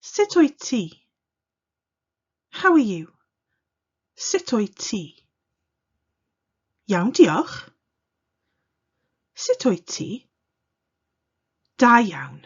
Sut wyt ti? How are you? Sut wyt ti? Iawn, diolch. Sut wyt ti? Da iawn.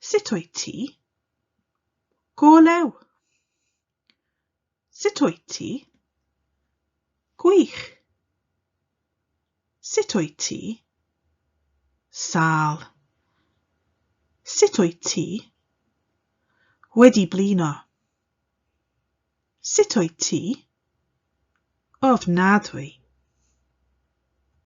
Sut wyt ti? Go lew. Sut wyt ti? Gwych. Sut wyt ti? Sal. Sut wyt ti? Wedi blino. Sut wyt ti? Ofnadwy.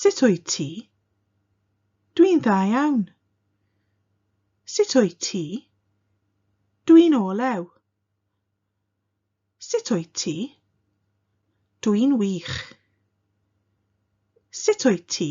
Sut wyt ti? Dwi'n dda iawn. Sut wyt ti? Dwi'n olew. Sut wyt ti? Dwi'n wych. Sut wyt ti?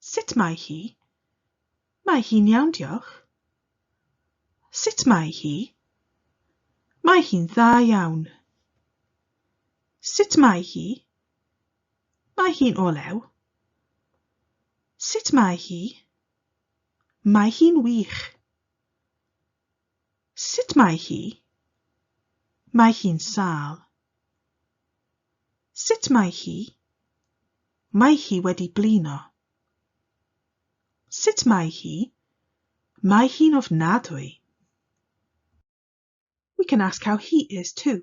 Sut mae hi? Mae hi'n iawn diolch. Sut mae hi? Mae hi'n dda iawn. Sut mae hi? Mae hi'n olew. Sut mae hi? Mae hi'n wych. Sut mae hi? Mae hi'n sâl. Sut mae hi? Mae hi wedi blino. Sut mae hi? Mae hi'n ofnadwy. We can ask how he is too.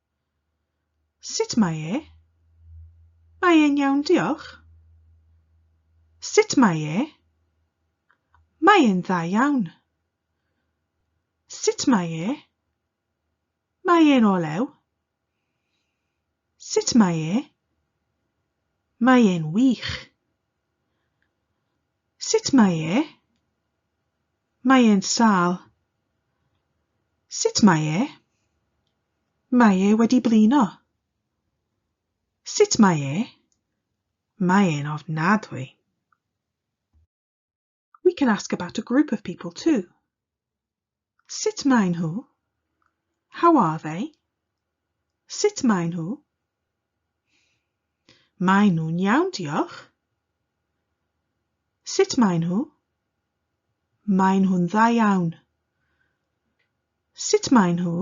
Sut mae e? Mae e'n iawn, diolch. Sut mae e? Mae e'n dda iawn. Sut mae e? Mae e'n olew. Sut mae e? Mae e'n wych. Sut mae e? Mae e'n sâl. Sut mae e? Mae e wedi blino. Sut mae e? Mae e'n ofnadwy. We can ask about a group of people too. Sut maen nhw? How are they? Sut maen nhw? Maen nhw'n iawn, diolch. Sut maen nhw? Maen nhw'n dda iawn. Sut maen nhw?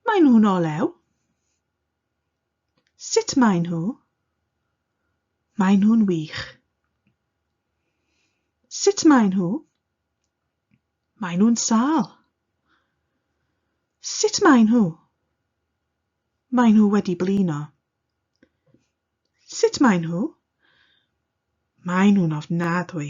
Maen nhw'n olew. Sut maen nhw? Maen nhw'n wych. Sut maen nhw? Maen nhw'n sâl. Sut maen nhw? Maen nhw wedi blino. Sut maen nhw? Maen nhw'n ofnadwy.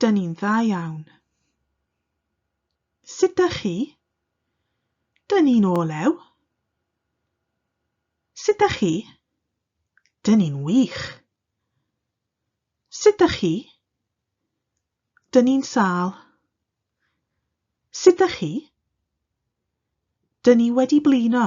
Dyn ni'n dda iawn. Sut dych chi? Dyn ni'n olew. Sut dych chi? Dyn ni'n wych. Sut dych chi? Dyn ni'n sâl. Sut dych chi? Dyn ni wedi blino.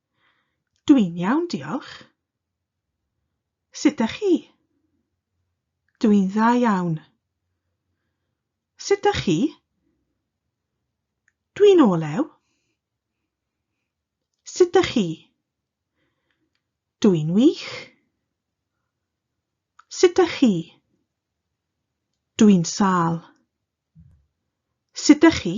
Dwi'n iawn, diolch. Sut 'dach chi? Dwi'n dda iawn. Sut 'dach chi? Dwi'n olew. Sut 'dach chi? Dwi'n wych. Sut 'dach chi? Dwi'n sâl. Sut 'dach chi?